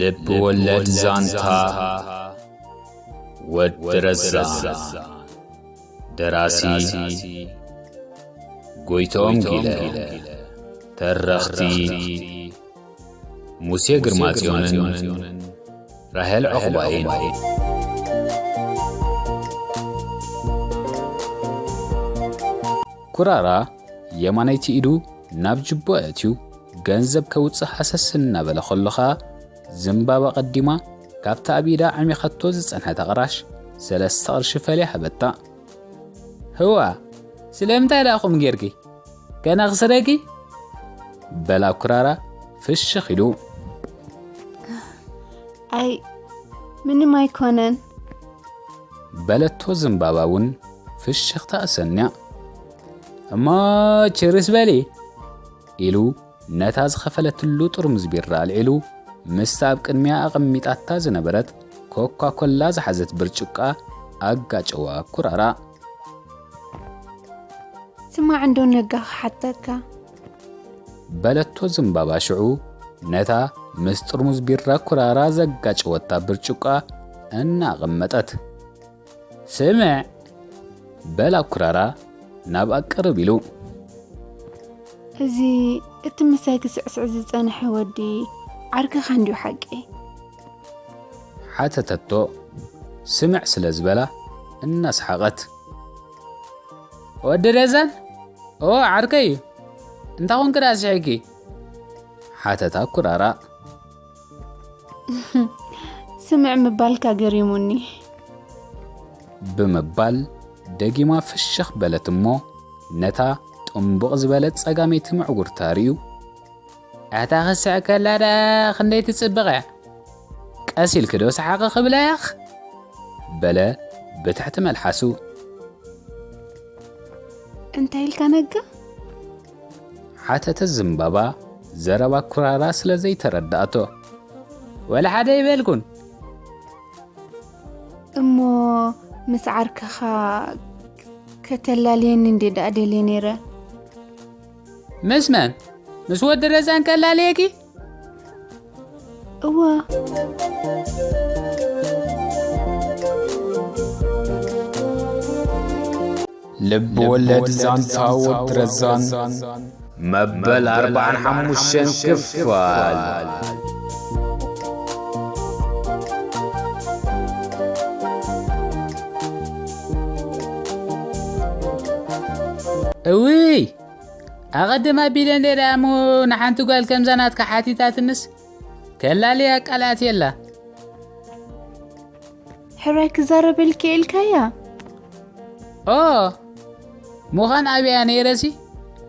ልብ ወለድ ዛንታ ወዲ ረዛን ደራሲ ጎይቶም ጊለ ተረኽቲ ሙሴ ግርማጽዮንን ራሄል ዕቑባይን ኩራራ የማነይቲ ኢዱ ናብ ጅቦ ኣእትዩ ገንዘብ ከውጽእ ሃሰስ እናበለ ከሎ ከኣ ዝምባባ ቀዲማ ካብታ ኣብ ኢዳ ዓሚኻቶ ዝጸንሐት ኣቕራሽ ሰለስተ ቅርሺ ፈልያ ሃበታ። ህዋ ስለምንታይ ደኣ ከምኡ ጌርኪ? ገና ክስረጊ? በላ ኩራራ ፍሽኽ ኢሉ። ኣይ ምንም ኣይኮነን በለቶ ዝምባባ እውን ፍሽኽታ እሰንያ። እሞ ችርስ በሊ ኢሉ ነታ ዝኸፈለትሉ ጥርሙዝ ቢራ ኣልዒሉ ምስታ ኣብ ቅድሚኣ ኣቐሚጣታ ዝነበረት ኮካ ኮላ ዝሓዘት ብርጭቋ ኣጋጨዋ ኩራራ። ስማዕ እንዶ ነጋ ክሓተካ በለቶ ዝምባባ ሽዑ ነታ ምስ ጥርሙዝ ቢራ ኩራራ ዘጋጨወታ ብርጭቋ እናቐመጠት ስምዕ በል ኣኩራራ ናብኣ ቅርብ ኢሉ። እዚ እቲ ምሳይ ክስዕስዕ ዝጸንሐ ወዲ ዓርክኻ እንድዩ ሓቂ? ሓተተቶ ስምዕ ስለ ዝበላ እናሰሓቐት። ወዲ ረዛን? እወ ዓርከይ እዩ። እንታይ ኮንኪ ደኣ ስሒቕኪ? ሓተታ ኩራራ። ስምዕ ምባልካ ገሪሙኒ ብምባል ደጊማ ፍሽኽ በለት እሞ ነታ ጥንቡቕ ዝበለት ጸጋመይቲ ምዕጉርታ ርእዩ ኣታ ክስዕ ከላ ደኣ ክንደይ ትጽብቕ እያ ቀስ ኢልኪ ዶ ሰሓቒ ክብላ ያኽ በለ ብትሕቲ መልሓሱ እንታይ ኢልካ ነጋ ሓተተት ዝምባባ ዘረባ ኩራራ ስለ ዘይተረዳእቶ። ወላሓደ ኣይበልኩን። እሞ ምስ ዓርክኻ ከተላልየኒ እንዴ ደኣ ደልየ ነይረ። ምስ መን? ምስ ወዲ ረዛን ከላልየኪ? እወ ልብ ወለድ ዛንታ ወዲ ረዛን መበል ኣርባዓን ሓሙሽተን ክፋል እውይ ኣቐድም ኣቢለ እንድርያ እሞ ንሓንቲ ጓል ከምዛ ናትካ ሓቲታትንስ ከላልያ ቃላት የላ ሕራይ ክዛረበልኪ ኢልካያ ኦ ምዃን ኣብያ ነይረሲ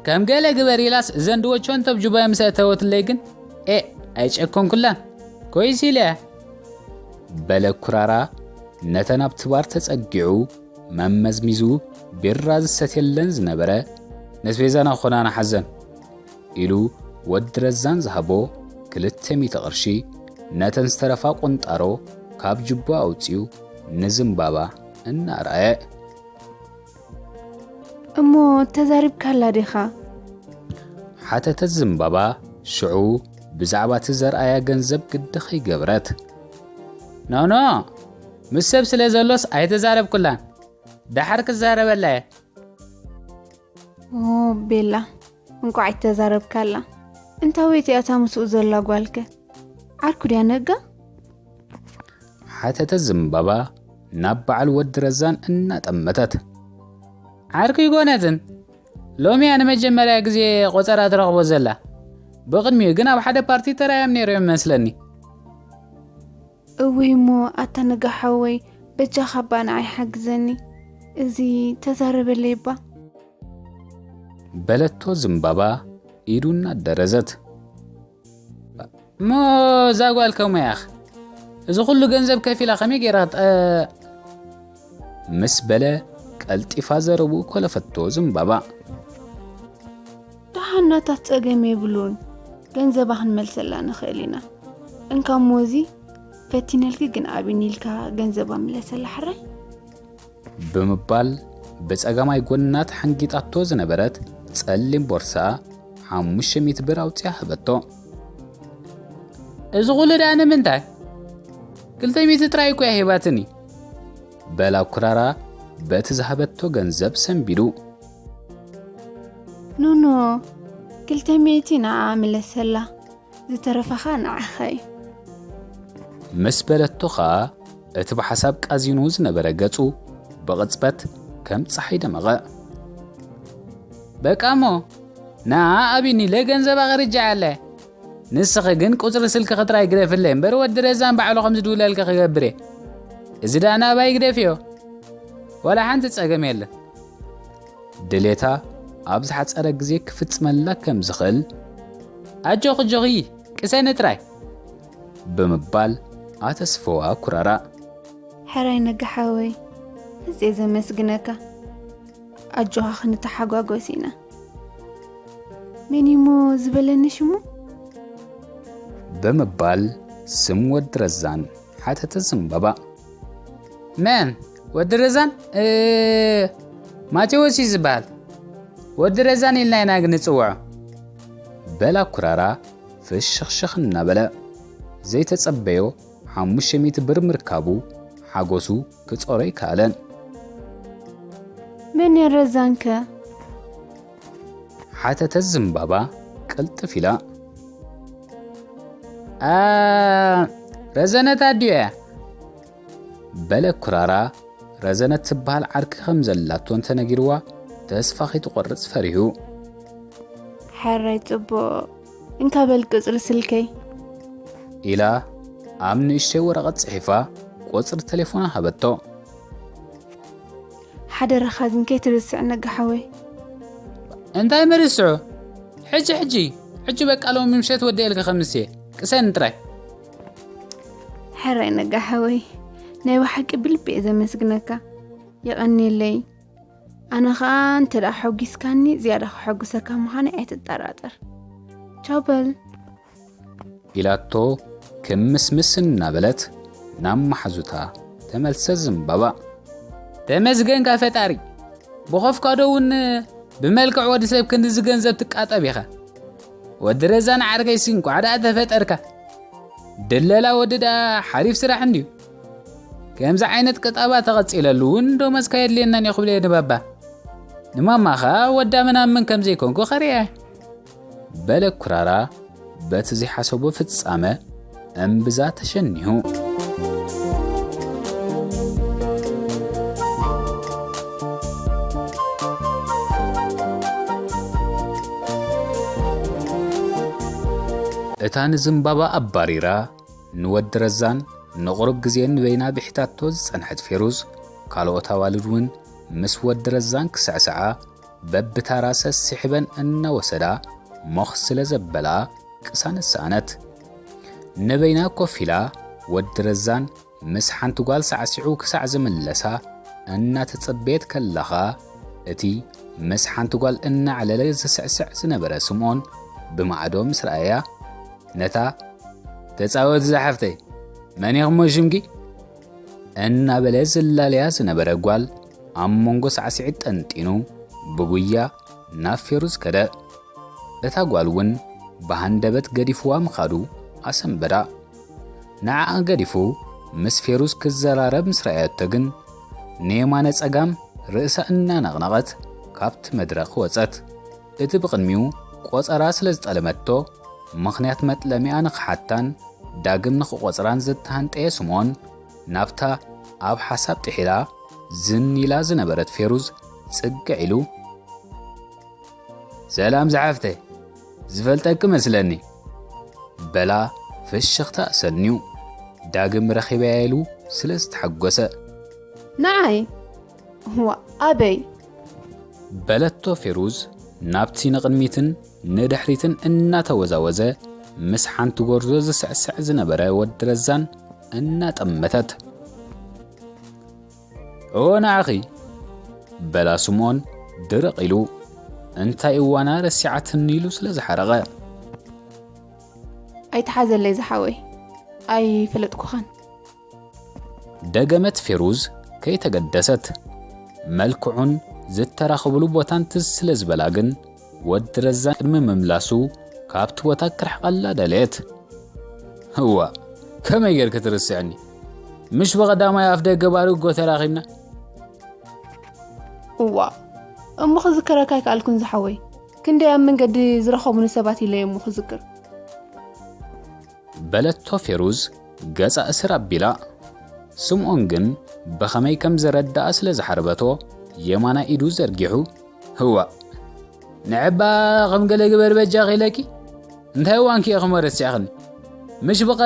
ከም ገለ ግበር ኢላስ እዘን ድወቸውን ተብጅባዮ ምስ እተወትለይ ግን ኤ ኣይጨከንኩላን ኮይስ ኢለ በለ ኩራራ ነተን ኣብቲ ባር ተጸጊዑ መመዝሚዙ ቢራ ዝሰትየለን ዝነበረ ነስቤዛና ኾና ንሓዘን ኢሉ ወዲ ረዛን ዝሃቦ ክልተ ሚእቲ ቅርሺ ነተን ዝተረፋ ቁንጣሮ ካብ ጅቦ ኣውፅኡ ንዝምባባ እናርኣየ እሞ ተዛሪብካላ ዲኻ ሓተተት ዝምባባ ሽዑ ብዛዕባ እቲ ዘርኣያ ገንዘብ ግዲ ከይገበረት ኖኖ ምስ ሰብ ስለ ዘሎስ ኣይተዛረብኩላን ደሓር ክዛረበላ እየ ኦ ቤላ እንቋዕ ኣይተዛረብካላ እንታወይቲ እያ እታ ምስኡ ዘላ ጓልከ ዓርኩ ድያ ነጋ ሓተተ ዝምባባ ናብ በዓል ወዲ ረዛን እናጠመተት ዓርኩ ይኮነትን ሎሚ እያ ንመጀመርያ ግዜ ቆፀራ ትረኽቦ ዘላ ብቕድሚኡ ግን ኣብ ሓደ ፓርቲ ተራዮም ነይሮም ይመስለኒ እውይ እሞ ኣታ ንጋ ሓወይ በጃካ እባ ንዓይ ሓግዘኒ እዚ ተዛረበለይ እባ። በለቶ ዝምባባ ኢዱ እናደረዘት። እሞ እዛ ጓል ከመይ እያኽ እዚ ኩሉ ገንዘብ ከፊላ ከመይ ገይራ ጠ ምስ በለ ቀልጢፋ ዘረብኡ ኮለፈቶ ዝምባባ። ደሓናታት ጸገም የብሉን ገንዘባ ክንመልሰላ ንኽእል ኢና እንካ ሞዚ ፈቲነልኪ ግን ኣብኒ ኢልካ ገንዘባ ምለሰላ ሕራይ ብምባል ብጸጋማይ ጎና ተሓንጊጣቶ ዝነበረት ጸሊም ቦርሳ ሓሙሽተ ሚእቲ ብር ኣውፅያ ሃበቶ እዚ ኩሉ ድኣ ንምንታይ ክልተ ሚእቲ ጥራይ እኮ እያ ሂባትኒ በላ ኩራራ በቲ ዝሃበቶ ገንዘብ ሰንቢዱ ኖኖ ክልተ ሚእቲ ንዓ ምለሰላ ዝተረፈኻ ንዓኻ እዩ ምስ በለቶ ኸኣ እቲ ብሓሳብ ቃዚኑ ዝነበረ ገጹ ብቕጽበት ከም ጸሓይ ደመቐ በቃ እሞ ንኣ ኣቢኒ ኢለ ገንዘብ ኣቕርጃዓለ ንስኺ ግን ቁጽሪ ስልኪ ክጥራይ ግደፍለይ እምበር ወዲ ረዛን ባዕሉ ከም ዝድውለልኪ ክገብር እየ እዚ ደኣ ናባይ ግደፍዮ ዋላ ሓንቲ ጸገም የለን ድሌታ ኣብ ዝሓጸረ ግዜ ክፍጽመላ ከም ዝኽእል ኣጆኺ ጆኺ ቅሰኒ ጥራይ ብምባል ኣተስፈዋ ኩራራእ ሕራይ ነጋ ሓወይ እዜ ዘመስግነካ ኣጆኻ ክንተሓጓጎስ ኢና መንሞ ዝበለኒ ሽሙ ብምባል ስም ወዲ ረዛን ሓተተት ዘምበባ። መን ወዲ ረዛን ማቴዎስ እዩ ዝበሃል ወዲ ረዛን ኢልና ኢና ግን ንፅውዖ በላ ኩራራ ፍሽኽሽኽ እናበለ ዘይተጸበዮ ሓሙሽተ ሚእቲ ብር ምርካቡ ሓጎሱ ክጾሮ ኣይከኣለን መን ረዛንከ ሓተተት ዝምባባ ቅልጥፍ ኢላ። ረዘነት ኣዲዮ እያ በለ ኩራራ ረዘነት ትበሃል ዓርኪ ከም ዘላቶ እንተነጊርዋ ተስፋ ከይትቆርጽ ፈሪሁ ሕራይ ጽቡቕ እንካ በል ቅጽሪ ስልከይ ኢላ ኣብ ንእሽተይ ወረቐት ጽሒፋ ቁጽሪ ቴሌፎና ሃበቶ ሓደራኻ ግን ከይትርስዕ ነጋ ሓወይ። እንታይ ምርስዑ ሕጂ ሕጂ ሕጂ በቃ ሎሚ ምሸት ወዲኤልካ ከምስ እየ ቅሰን ጥራይ። ሕራይ ነጋ ሓወይ ናይ ብሓቂ ብልቢ እየ ዘመስግነካ የቐኒለይ ኣነ ኸኣ እንተ ደኣ ሖጊስካኒ ዝያዳ ክሐጉሰካ ምዃነይ ኣይትጠራጠር ቻው በል ኢላቶ ክምስምስ እናበለት ናብ ማሓዙታ ተመልሰ ዝምባባ። ተመስገንካ ፈጣሪ ብኸፍካዶ እውን ብመልክዕ ወዲ ሰብ ክንድዚ ገንዘብ ትቃጠብ ኢኻ ወዲ ረዛን ዓርከይሲ እንኳዕ ደኣ ተፈጠርካ ድለላ ወዲ ደኣ ሓሪፍ ስራሕ እንድዩ ከምዚ ዓይነት ቅጠባ ተቐፂለሉ እውን ዶመስካ የድልየናን እዩ ክብለየ ንባባ ንማማ ኸኣ ወዳ ምናምን ከም ዘይኮንኩ ኸርእያ በለ ኩራራ በቲ ዘይሓሰቦ ፍጻመ እምብዛ ተሸኒሁ። እታ ንዝምባባ ኣባሪራ ንወዲ ረዛን ንቕሩብ ግዜ ንበይና ብሒታቶ ዝጸንሐት ፌሩዝ፣ ካልኦት ኣዋልድ እውን ምስ ወዲ ረዛን ክስዕስዓ በብታራ ሰሲሕበን እናወሰዳ ሞኽ ስለ ዘበላ ቅሳነት ሰኣነት። ንበይና ኮፍ ኢላ ወዲ ረዛን ምስ ሓንቲ ጓል ሳዕሲዑ ክሳዕ ዝምለሳ እናተጸበየት ከላኻ እቲ ምስ ሓንቲ ጓል እናዕለለ ዝስዕስዕ ዝነበረ ስምኦን ብማዕዶ ምስ ረኣያ ነታ ተጻወቲ ዝሓፍተይ መን ኢኹሞ ሽምኪ እናበለ ዝላለያ ዝነበረ ጓል ኣብ መንጎ ሳዕስዒት ጠንጢኑ ብጉያ ናብ ፌሩዝ ከደ። እታ ጓል እውን ብሃንደበት ገዲፍዋ ምኻዱ ኣሰንበዳ። ንዓኣ ገዲፉ ምስ ፌሩዝ ክዘራረብ ምስ ረኣየቶ ግን ንየማነ ጸጋም ርእሳ እናነቕነቐት ካብቲ መድረኽ ወጸት። እቲ ብቕድሚኡ ቆጸራ ስለ ዝጠለመቶ ምኽንያት መጥለሚኣ ንኽሓታን ዳግም ንኽቖጽራን ዝተሃንጠየ ስምኦን፣ ናብታ ኣብ ሓሳብ ጥሒላ ዝን ኢላ ዝነበረት ፌሩዝ ጽግዕ ኢሉ፣ ሰላም ዝሓፍተይ፣ ዝፈልጠኪ መስለኒ፣ በላ ፍሽኽታ ኣሰንዩ፣ ዳግም ረኺበያ ኢሉ ስለ ዝተሓጎሰ። ንዓይ? ዋእ ኣበይ? በለቶ ፌሩዝ ናብቲ ንቕድሚትን ንድሕሪትን እናተወዛወዘ ምስ ሓንቲ ጎርዞ ዝስዕስዕ ዝነበረ ወዲ ረዛን እናጠመተት ኦ ንዓኺ በላ ስምኦን ድርቕ ኢሉ እንታይ እዋና ረሲዓትኒ ኢሉ ስለ ዝሓረቐ ኣይትሓዘለይ ዝሓወይ ኣይፈለጥኩኻን ደገመት ፌሩዝ ከይተገደሰት። መልክዑን ዝተራኸቡሉ ቦታን ትዝ ስለ ዝበላ ግን ወዲ ረዛን ቅድሚ ምምላሱ ካብቲ ቦታ ክርሕቐላ ደለየት። እዋ ከመይ ጌርክ ትርስዕኒ? ምሽ ብቐዳማይ ኣፍ ደገ ባርጎ ተራኺብና። እዋ እሞ ክዝክረካ ኣይከኣልኩን ዝሓወይ፣ ክንደይ ኣብ መንገዲ ዝረኸቡኒ ሰባት ኢለየ እሞ ክዝክር በለቶ ፌሩዝ ገጻ እስር ኣቢላ። ስምኦን ግን ብኸመይ ከም ዝረድኣ ስለ ዝሓርበቶ የማናይ ኢዱ ዘርጊሑ ህዋእ ንዕባ ከም ገለ ግበር በጃኺ ኢለኪ እንታይ እዋንኪ እየ ክሞ ረሲዕኽኒ ምሽ ብቐ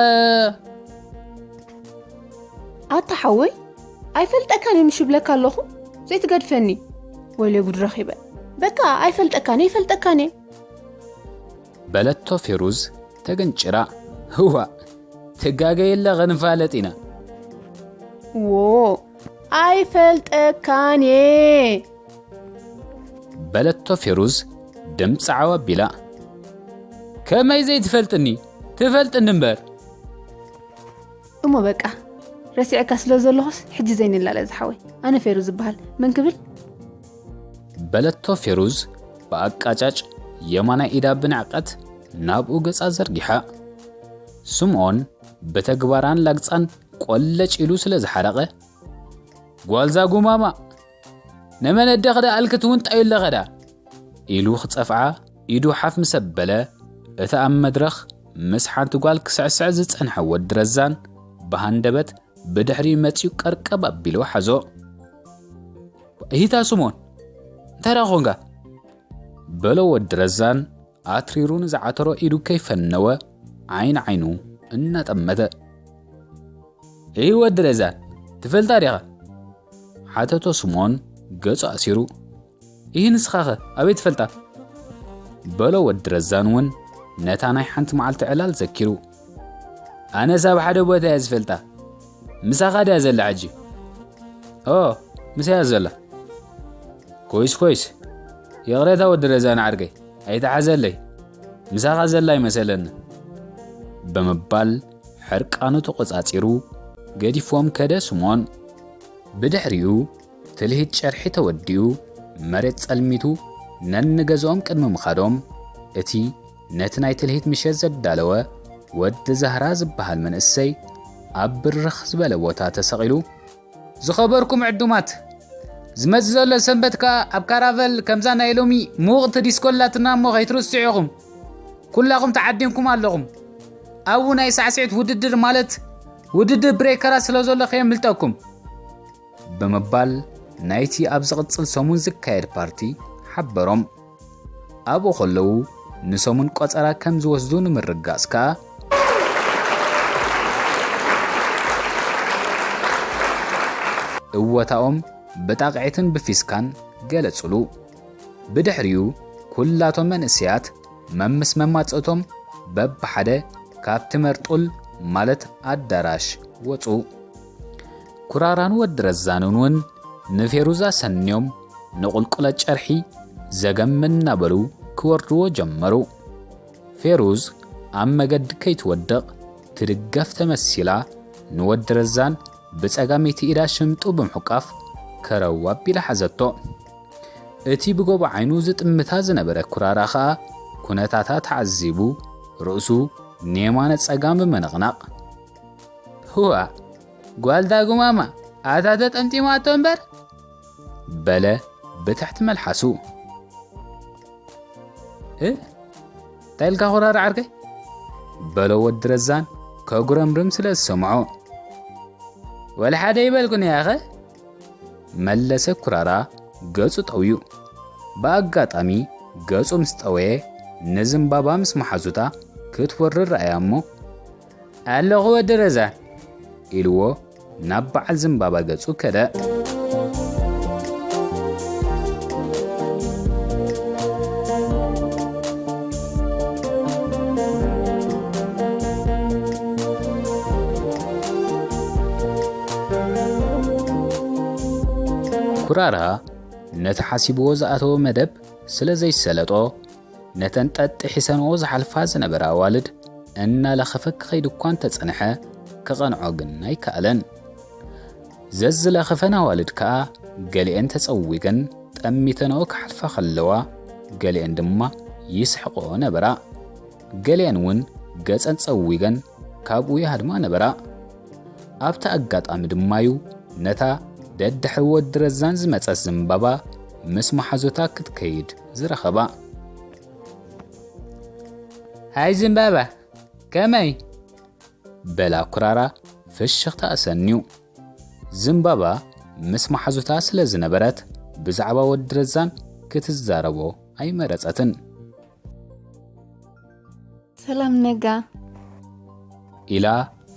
ኣታ ሓወይ ኣይፈልጠካን እየ ምሽብለካ ኣለኹ ዘይትገድፈኒ ወይለ ጉድ ረኺበ በቃ ኣይፈልጠካን እየ ይፈልጠካን እየ በለቶ ፌሩዝ ተገንጭራ ህዋእ ትጋገየላ ክንፋለጥ ኢና ዎ ኣይፈልጠካን እየ በለቶ ፌሩዝ ድምፂ ዓው ኣቢላ ከመይ ዘይትፈልጥኒ ትፈልጥኒ እምበር እሞ በቃ ረሲዕካ ስለ ዘለኹስ ሕጂ ዘይንላለ ዝሓወይ ኣነ ፌሩ ዝበሃል መን ክብል በለቶ ፌሩዝ ብኣቃጫጭ የማናይ ኢዳ ብንዕቀት ናብኡ ገጻ ዘርጊሓ። ስምኦን ብተግባራን ላግጻን ቆለጭ ኢሉ ስለ ዝሓረቐ ጓልዛ ጉማማ ንመን ደኽዳ ኣልክት እውን ጣዩ ኣለኸዳ ኢሉ ክጸፍዓ ኢዱ ሓፍ ምስ ኣበለ እቲ ኣብ መድረኽ ምስ ሓንቲ ጓል ክስዕስዕ ዝጸንሐ ወዲ ረዛን ብሃንደበት ብድሕሪ መጺኡ ቀርቀብ ኣቢሉ ሓዞ ሂታ ስሞን እንታይ ደኣ ኮንካ በሎ ወዲ ረዛን ኣትሪሩ ንዝዓተሮ ኢዱ ከይፈነወ ዓይኒ ዓይኑ እናጠመተ እይ ወዲ ረዛን ትፈልጣ ዲኻ ሓተቶ ስምኦን ገጹ ኣሲሩ ይህ ንስኻኸ ኣበይ ትፈልጣ በሎ ወዲ ረዛን እውን ነታ ናይ ሓንቲ መዓልቲ ዕላል ዘኪሩ ኣነስ ኣብ ሓደ ቦታ እያ ዝፈልጣ ምሳኻ ድያ ዘላ ሕጂ ኦ ምሳያ ዘላ ኮይስ ኮይስ ይቕሬታ ወዲ ረዛን ዓርከይ ኣይትሓዘለይ ምሳኻ ዘላ ኣይመሰለንን ብምባል ሕርቃኑ ተቖጻጺሩ ገዲፎም ከደ ስሞን። ብድሕሪኡ ትልሂት ጨርሒ ተወዲኡ መሬት ጸልሚቱ ነንገዝኦም ቅድሚ ምኻዶም እቲ ነቲ ናይ ትልሂት ምሸት ዘዳለወ ወዲ ዛህራ ዝበሃል መንእሰይ ኣብ ብርኽ ዝበለ ቦታ ተሰቒሉ ዝኸበርኩም ዕዱማት ዝመጽእ ዘሎ ሰንበት ከኣ ኣብ ካራቨል ከምዛ ናይ ሎሚ ምውቕቲ ዲስኮ ኣላትና እሞ ከይትርስዑ ኢኹም ኩላኹም ተዓዲምኩም ኣለኹም ኣብኡ ናይ ሳዕስዒት ውድድር ማለት ውድድር ብሬከራት ስለ ዘሎ ከየምልጠኩም ብምባል ናይቲ ኣብ ዝቕጽል ሰሙን ዝካየድ ፓርቲ ሓበሮም ኣብኡ ከለዉ ንሰሙን ቆጸራ ከም ዝወስዱ ንምርግጋጽ ከኣ፣ እወታኦም ብጣቕዒትን ብፊስካን ገለጹሉ። ብድሕሪኡ ኩላቶም መንእሰያት መምስ መማጽእቶም በብሓደ ካብቲ መርጡል ማለት ኣዳራሽ ወጹ። ኩራራን ወዲ ረዛንን እውን ንፌሩዝ ኣሰንዮም ንቑልቁለት ጨርሒ ዘገም እናበሉ ክወርድዎ ጀመሩ። ፌሩዝ ኣብ መገዲ ከይትወድቕ ትድገፍ ተመሲላ ንወዲ ረዛን ብጸጋመይቲ ኢዳ ሽምጡ ብምሕቋፍ ከረው ኣቢላ ሓዘቶ። እቲ ብጎቦ ዓይኑ ዝጥምታ ዝነበረ ኩራራ ከኣ ኩነታታ ተዓዚቡ ርእሱ ንየማነ ጸጋም ብምንቕናቕ ህዋእ! ጓል ዳጉማማ ኣታ ተጠምጢማቶ እምበር በለ ብትሕቲ መልሓሱ እ እንታይ ኢልካ ኩራር ዓርከይ በሎ ወዲ ረዛን ከጉረምርም ስለ ዝሰምዖ ወላ ሓደ ይበልኩን ያኸ መለሰ ኩራራ ገጹ ጠውዩ ብኣጋጣሚ ገጹ ምስ ጠወየ ንዝምባባ ምስ መሓዙታ ክትወርር ረኣያ እሞ ኣለኹ ወዲ ረዛ ኢልዎ ናብ በዓል ዝምባባ ገጹ ከደ። ኩራራ ነቲ ሓሲብዎ ዝኣተዎ መደብ ስለ ዘይሰለጦ ነተን ጠጥ ሒሰንኦ ዝሓልፋ ዝነበራ ኣዋልድ እናለኸፈ ክኸይድ እኳ እንተጸንሐ ክቐንዖ ግን ኣይከኣለን። ዘዝለኸፈን ኣዋልድ ከኣ ገሊኤን ተጸዊገን ጠሚተንኦ ክሓልፋ ከለዋ ገሊኤን ድማ ይስሕቕኦ ነበራ። ገሊኤን እውን ገጸን ጸዊገን ካብኡ ይሃድማ ነበራ። ኣብቲ ኣጋጣሚ ድማ'ዩ ነታ ደድሕሪ ወዲ ረዛን ዝመጸት ዘምባባ ምስ መሓዙታ ክትከይድ ዝረኸባ። ሃይ ዘምባባ፣ ከመይ? በላ ኩራራ ፍሽኽታ ኣሰንዩ። ዘምባባ ምስ መሓዙታ ስለ ዝነበረት ብዛዕባ ወዲ ረዛን ክትዛረቦ ኣይመረጸትን። ሰላም ነጋ ኢላ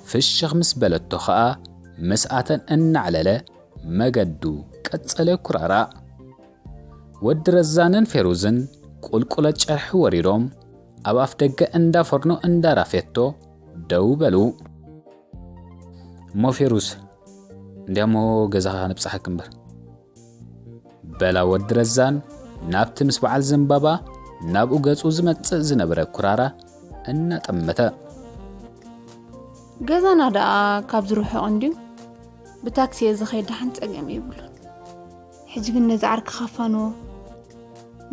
ፍሽኽ ምስ በለቶ ኸኣ ምስኣተን እናዕለለ መገዱ ቀጸለ ኩራራእ። ወዲ ረዛንን ፌሩዝን ቁልቁለት ጨርሒ ወሪዶም ኣብ ኣፍደገ እንዳ ፎርኖ እንዳ ራፌቶ ደው በሉ። እሞ ፌሩዝ እንዲያሞ ገዛኻ ንብጽሓክ እምበር በላ ወዲ ረዛን ናብቲ ምስ በዓል ዘምባባ ናብኡ ገጹ ዝመጽእ ዝነበረ ኩራራ እናጠመተ ገዛና ደኣ ካብ ዝርሕቕ እንድዩ ብታክሲ እየ ዝኸይድ ደሓን ጸገም የብሉን ሕጂ ግን ነዚ ዓርኪ ካፋንዎ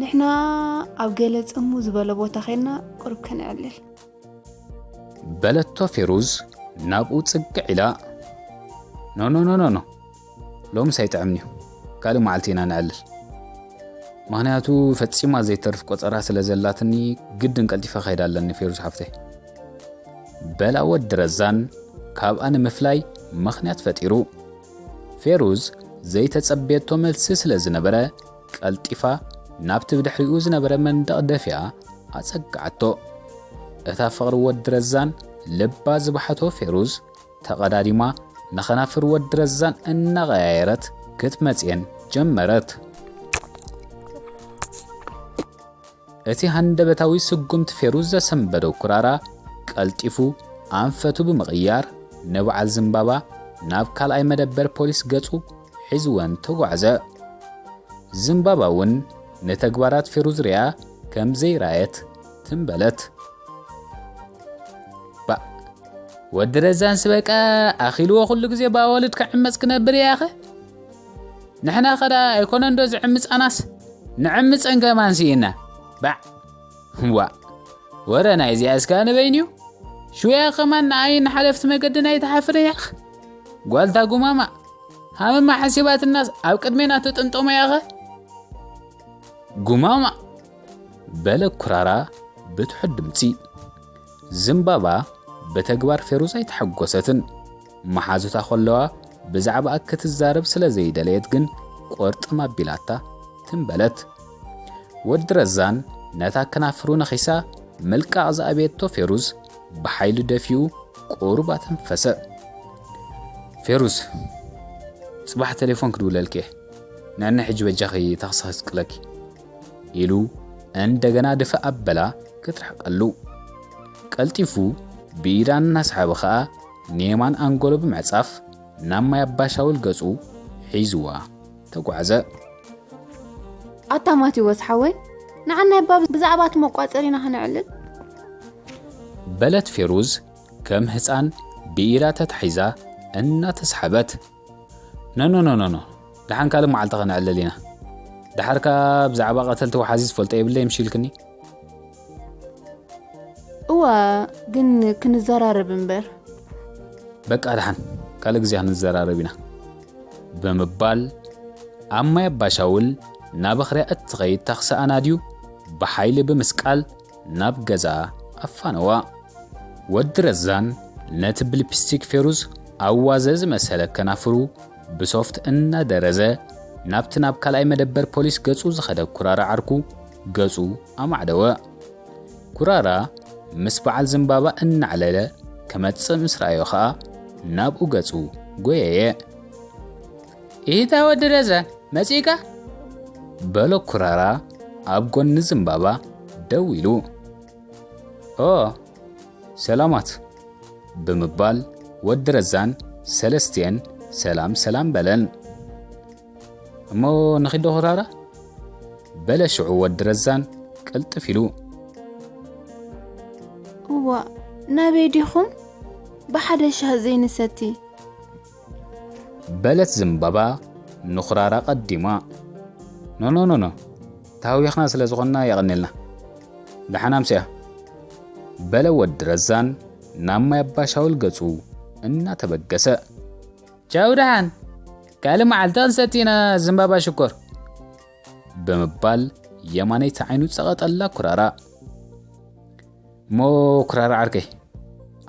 ንሕና ኣብ ገለ ጽሙ ዝበለ ቦታ ኸይድና ቁርብ ከነዕልል በለቶ ፌሩዝ ናብኡ ጽግዕ ኢላ ኖኖኖኖኖ ሎምስ ኣይጥዕምን'ዩ ካልእ መዓልቲ ኢና ነዕልል ምክንያቱ ፈጺማ ዘይተርፍ ቆጸራ ስለ ዘላትኒ ግድን ቀልጢፈ ከይዳ ኣለኒ ፌሩዝ ሓፍተይ በላ ወዲ ረዛን ካብኣ ንምፍላይ ምክንያት ፈጢሩ ፌሩዝ ዘይተጸበየቶ መልሲ ስለ ዝነበረ ቀልጢፋ ናብቲ ብድሕሪኡ ዝነበረ መንደቕ ደፊኣ ኣጸግዓቶ እታ ፍቕሪ ወዲ ረዛን ልባ ዝበሓቶ ፌሩዝ ተቐዳዲማ ንከናፍር ወዲ ረዛን እናቐያየረት ክትመጽየን ጀመረት። እቲ ሃንደበታዊ ስጉምቲ ፌሩዝ ዘሰንበዶ ኩራራ ቀልጢፉ ኣንፈቱ ብምቕያር ንበዓል ዝምባባ ናብ ካልኣይ መደበር ፖሊስ ገጹ ሒዝወን ተጓዕዘ። ዝምባባ እውን ንተግባራት ፌሩዝ ሪያ ከም ዘይረኣየት ትም በለት። ወዲ ረዛንስ በቃ ኣኺልዎ ኩሉ ግዜ ብኣዋልድ ክዕመፅ ክነብር እያ ኸ ንሕና ኸ ደኣ ኣይኮነን ዶ ዝዕምፃናስ ንዕምፀን ከማን ስኢና ባዕ ዋ ወረ ናይ እዚኣ እስካ ንበይን እዩ ሽውያ ከማን ንኣይን ሓለፍቲ መገድን ኣይትሓፍር እያ ኸ ጓልታ ጉማማ ሃመማ ሓሲባትናስ ኣብ ቅድሜና ተጠምጠሞ እያ ኸ ጉማማ በለ ኩራራ ብትሑት ድምፂ ዝምባባ ብተግባር ፌሩዝ ኣይተሐጎሰትን። መሓዙታ ከለዋ ብዛዕባኣ ክትዛረብ ስለ ዘይደለየት ግን ቁርጥም ኣቢላታ ትም በለት። ወዲ ረዛን ነታ ከናፍሩ ነኺሳ ምልቃቕ ዝኣበየቶ ፌሩዝ ብሓይሉ ደፊኡ ቁሩብ ኣተንፈሰ። ፌሩዝ ጽባሕ ቴሌፎን ክድውለልኪ እየ። ንዕኒ ሕጂ በጃኺ ታክሲ ከስቅለኪ። ኢሉ እንደገና ድፍእ ኣበላ ክትርሕቀሉ። ቀልጢፉ ብኢዳ እናሰሓበ ከኣ ንየማን ኣንጎሎ ብምዕጻፍ ናብ ማይ ኣባሻውል ገጹ ሒዝዋ ተጓዕዘ። ኣታ ማቲዎስ ሓወይ ንዓና እባ ብዛዕባ እቲ መቋጸር ኢና ክነዕልል። በለት ፌሩዝ ከም ህጻን ብኢዳ ተታሒዛ እናተሰሓበት። ኖኖኖኖኖ ደሓን ካልእ መዓልቲ ከነዕልል ኢና ደሓር ከኣ ብዛዕባ ቀተልቲ ወሓዚ ዝፈልጦ የብለይ ምሽ ኢልክኒ እዋ ግን ክንዘራረብ እምበር በቃ ደሓን ካልእ ግዜ ክንዘራረብ ኢና ብምባል ኣብ ማይ ኣባሻውል ናብ ኣኽርያ እትኸይድ ታክሲ ኣናድዩ ብሓይሊ ብምስቃል ናብ ገዛ ኣፋነዋ። ወዲ ረዛን ነቲ ብልፕስቲክ ፌሩዝ ኣብ ዋዘ ዝመሰለ ከናፍሩ ብሶፍት እናደረዘ ናብቲ ናብ ካልኣይ መደበር ፖሊስ ገጹ ዝኸደ ኩራራ ዓርኩ ገጹ ኣማዕደወ። ኩራራ ምስ በዓል ዝምባባ እናዕለለ ክመጽእ ምስ ረኣዮ ከኣ ናብኡ ገጹ ጎየየ። ኢታ ወዲ ረዛን መጺእካ? በሎ ኩራራ ኣብ ጎኒ ዝምባባ ደው ኢሉ። ኦ ሰላማት ብምባል ወዲ ረዛን ሰለስቲኤን ሰላም ሰላም በለን። እሞ ንኺዶ ኩራራ በለ ሽዑ ወዲ ረዛን ቅልጥፍ ኢሉ እዋ ናበይ ዲኹም ብሓደ ሻህ ዘይንሰቲ በለት ዝምባባ ንኹራራ ቀዲማ። ኖኖኖኖ ተሃዊኽና ስለ ዝኾንና የቐኔልና ደሓን ኣምስያ በለ ወዲ ረዛን ናብ ማይ ኣባሻውል ገጹ እናተበገሰ። ቻው ደሓን ካልእ መዓልቲ ክንሰቲ ኢና ዝምባባ ሽኮር ብምባል የማነይቲ ዓይኑ ጸቐጠላ ኩራራ። እሞ ኩራራ ዓርከይ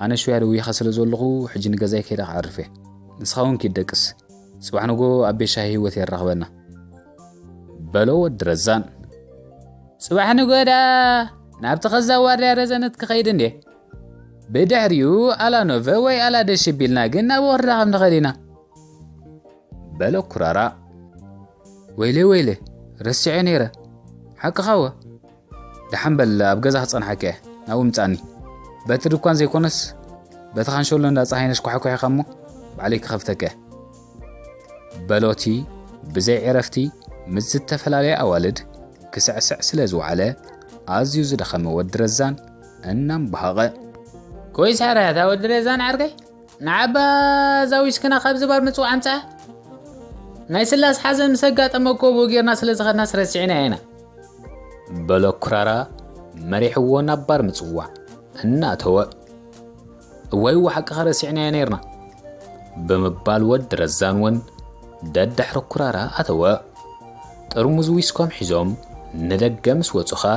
ኣነ ሽውያ ደዊኻ ስለ ዘለኹ ሕጂ ንገዛይ ከይደ ክዓርፍ እየ ንስኻ እውን ኪድ ደቅስ ጽባሕ ንጎ ኣብ ቤት ሻሂ ህይወት የራኽበና በሎ ወዲ ረዛን ጽባሕ ንጎ ደኣ ናብቲ ከዛ ዋርድያ ረዘነት ክኸይድ እንዴ ብድሕሪኡ ኣላኖቨ ወይ ኣላደሽ ቢልና ግን ናብ ወርዳ ከም ንኸድ ኢና በለ ኩራራ ወይለ ወይለ ረሲዐ ነይረ ሓቅኻወ ደሓን በል ኣብ ገዛ ክጸንሓካ እየ ናብኡ ምጻኒ በቲ ድኳን ዘይኮነስ በቲ ካንሸሎ እንዳ ጸሃይነሽ ኳሕኳሒኻ እሞ ባዕለይ ክኸፍተካ እየ በሎቲ ብዘይ ዕረፍቲ ምስ ዝተፈላለየ ኣዋልድ ክስዕስዕ ስለ ዝወዓለ ኣዝዩ ዝደኸመ ወዲ ረዛን እናምባሃቐ ኮይስ ሕራያታ ወዲ ረዛን ዓርከይ ንዓባ እዛ ዊስክና ካብዚ ባር ምጽዋዕ ኣምጽኣ ናይ ስላስ ሓዘን ምስ ኣጋጠመ እኮ ብኡ ጌርና ስለ ዝኸድናስ ረሲዕናያ ኢና በሎ ኩራራ መሪሕዎ ናብ ባር ምጽዋዕ እናእተወ እዋይ እዋ ሓቅኻ ረሲዕናያ ነይርና ብምባል ወዲ ረዛን እውን ደድሕሪ ኩራራ ኣተወ ጥርሙዝ ዊስኮም ሒዞም ንደገ ምስ ወጹ ኸኣ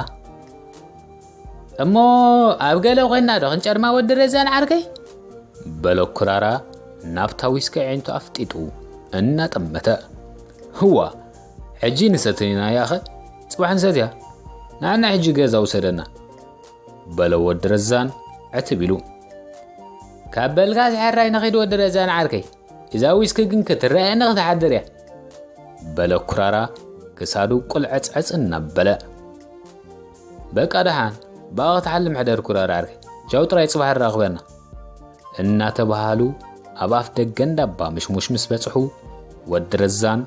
እሞ ኣብ ገለ ኮይና ዶ ክንጨርማ ወዲ ረዛን ዓርከይ? በሎ ኩራራ ናብታ ዊስኪ ኣዒንቱ ኣፍጢጡ እናጠመተ። ህዋ ሕጂ ንሰትን ኢና ያኸ ጽባሕ ንሰትያ ንዓና ሕጂ ገዛ ውሰደና በሎ ወዲ ረዛን ዕትብ ኢሉ። ካብ በልካስ ሕራይ ንኺድ ወዲ ረዛን ዓርከይ እዛ ዊስኪ ግን ክትረኣየኒ ክትሓድር እያ በለ ኩራራ ክሳዱ ቁልዕጽዕጽ እናበለ በቃ ደሓን ብኣ ክትሓልም ሕደር ኩራር ዓርከይ ቻው ጥራይ ጽባሕ ኣራኽበና እናተባሃሉ ኣብ ኣፍ ደገ እንዳባ ምሽሙሽ ምስ በጽሑ ወዲ ረዛን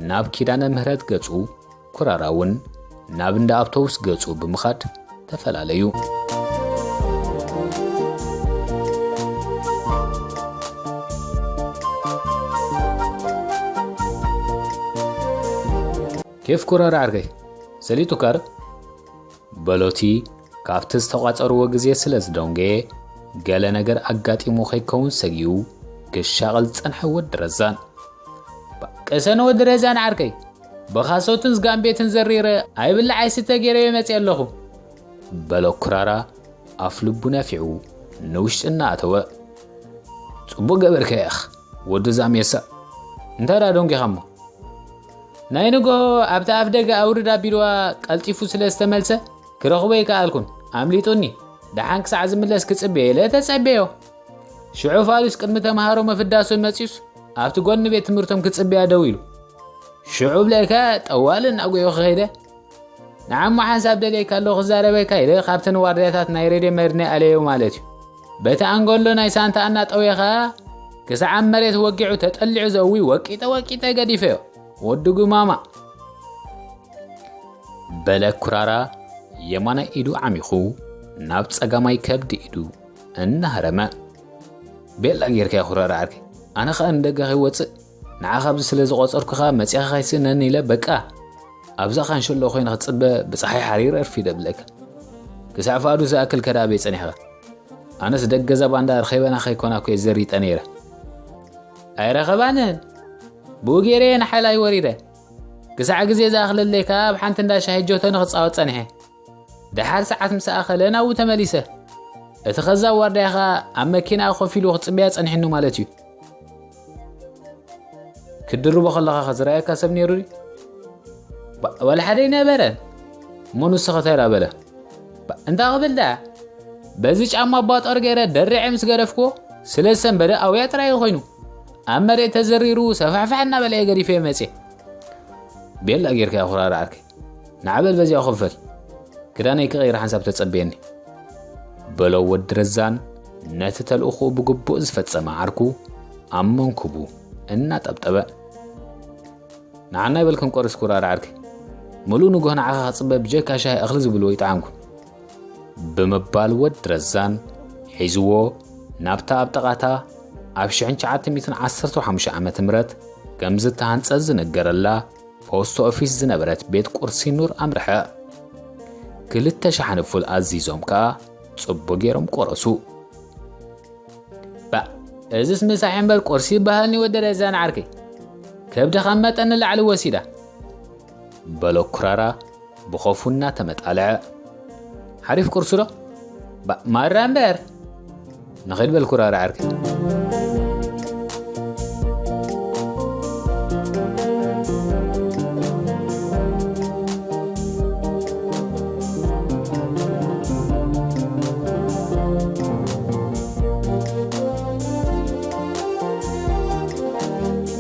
ናብ ኪዳነ ምህረት ገጹ ኩራራ እውን ናብ እንዳ ኣብቶቡስ ገጹ ብምኻድ ተፈላለዩ ኬፍ ኩረር ዓርከይ ሰሊጡ ካር በሎቲ ካብቲ ዝተቋጸርዎ ግዜ ስለ ዝደንገየ ገለ ነገር ኣጋጢሙ ከይከውን ሰጊኡ ክሻቐል ዝጸንሐ ወዲ ረዛን ቅሰን ወዲ ረዛን ዓርከይ ብኻሶትን ዝጋን ቤትን ዘሪረ ኣይብላዕ ኣይስተ ገይረዮ መፅእ ኣለኹ በሎ ኩራራ ኣፍ ልቡ ነፊዑ ንውሽጢ እናኣተወ ጽቡቕ ገበርከ ኢኽ ወዲ ዛሜሳ እንታይ ደኣ ደንጊኻ እሞ ናይ ንግሆ ኣብቲ ኣፍ ደገ ኣውርድ ኣቢልዋ ቀልጢፉ ስለ ዝተመልሰ ክረኽቦ ኣይከኣልኩን ኣምሊጡኒ ደሓን ክሳዕ ዝምለስ ክጽበየ ኢለ ተጸበዮ ሽዑ ፋሉስ ቅድሚ ተምሃሮ መፍዳሶን መጺኡስ ኣብቲ ጎኒ ቤት ትምህርቶም ክጽበያ ደው ኢሉ ሽዑ ብለካ ጠዋል እናጎዮ ክኸይደ ንዓሞ ሓንሳብ ደልየካ ኣለኹ ክዛረበካ ኢለ ካብተን ዋርድያታት ናይ ሬድዮ መድነ ኣለዮ ማለት እዩ በቲ ኣንጎሎ ናይ ሳንታ ኣናጠውየ ኸኣ ክሳዕ ኣብ መሬት ወጊዑ ተጠሊዑ ዘዊ ወቂጠ ወቂጠ ገዲፈዮ ወዲ ጉማማ በለ ኩራራ የማናይ ኢዱ ዓሚኹ ናብ ጸጋማይ ከብዲ ኢዱ እናሃረመ ቤላ ጌርካ ኩራራ ዓርከይ ኣነ ኸኣ ንደገ ከይወፅእ ንዓኻ ኣብዚ ስለ ዝቖጸርኩኻ መጺኻ ከይስእነኒ ኢለ በቃ ኣብዛ ካንሸሎ ኮይነ ክጽበ ብፀሓይ ሓሪር ኣርፊደ ብለካ ክሳዕ ፍኣዱ ዝኣክል ከዳ ኣበይ ጸኒሕኻ ኣነስ ደገዛ ባንዳ ርኸበና ከይኮና ኮየ ዘሪጠ ነይረ ኣይረኸባንን ብኡ ገይረ የን ሓይላይ ወሪደ ክሳዕ ግዜ ዝኣኽለለይ ከዓ ኣብ ሓንቲ እንዳ ሻሂ ጆተኒ ክፃወት ጸኒሐ ደሓር ሰዓት ምስ ኣኸለ ናብኡ ተመሊሰ። እቲ ከዛብ ዋርዳይ ኸኣ ኣብ መኪናኣ ኮፍ ኢሉ ክጽበያ ጸኒሕኑ ማለት እዩ። ክትድርቦ ከለኻ ከዝረኣየካ ሰብ ነይሩ ድዩ? ዋላ ሓደ ኣይነበረን እሞ ንሱ ከተላ በለ እንታ ክብል ደኣ በዚ ጫማ ኣባጦር ገይረ ደሪዐ ምስ ገደፍኩዎ ስለ ዝሰንበደ ኣውያ ጥራይ ኮይኑ ኣብ መሬት ተዘሪሩ ሰፋሕፋሕ እናበለ ገዲፈ መፅየ ቤላ ጌርካ ኩራርዓርከይ ናዕበል በዚኦ ክፍል ክዳነይ ክቐይር ሓንሳብ ተጸብየኒ በሎ ወዲ ረዛን ነቲ ተልእኹኡ ብግቡእ ዝፈጸመ ዓርኩ ኣብ መንኩቡ እናጠብጠበ ንዓናይ በልክን ቆርስ ኩራር ዓርኪ ምሉእ ንጉህ ንዓኻ ክጽበ ብጀካ ሻሂ እኽሊ ዝብልዎ ይጠዓምኩ ብምባል ወዲ ረዛን ሒዝዎ ናብታ ኣብ ጠቓታ ኣብ 1915 ዓ ም ከም ዝተሃንጸት ዝነገረላ ፖስት ኦፊስ ዝነበረት ቤት ቁርሲ ኑር ኣምርሐ። ክልተ ሻሓኒ ፉል ኣዚዞም ከኣ ጽቡ ገይሮም ቆረሱ። ባእ እዝስ ምሳሕ እምበር ቁርሲ ይበሃልኒ ወዲ ረዛን ዓርከይ ከብዲ ካብ መጠን ንላዕሊ ወሲዳ በሎ ኩራራ ብኾፉ እናተመጣለዐ፣ ሓሪፍ ቁርሲዶ? ባእ ማራ እምበር! ንኺድ በል ኩራራ ዕርኪ።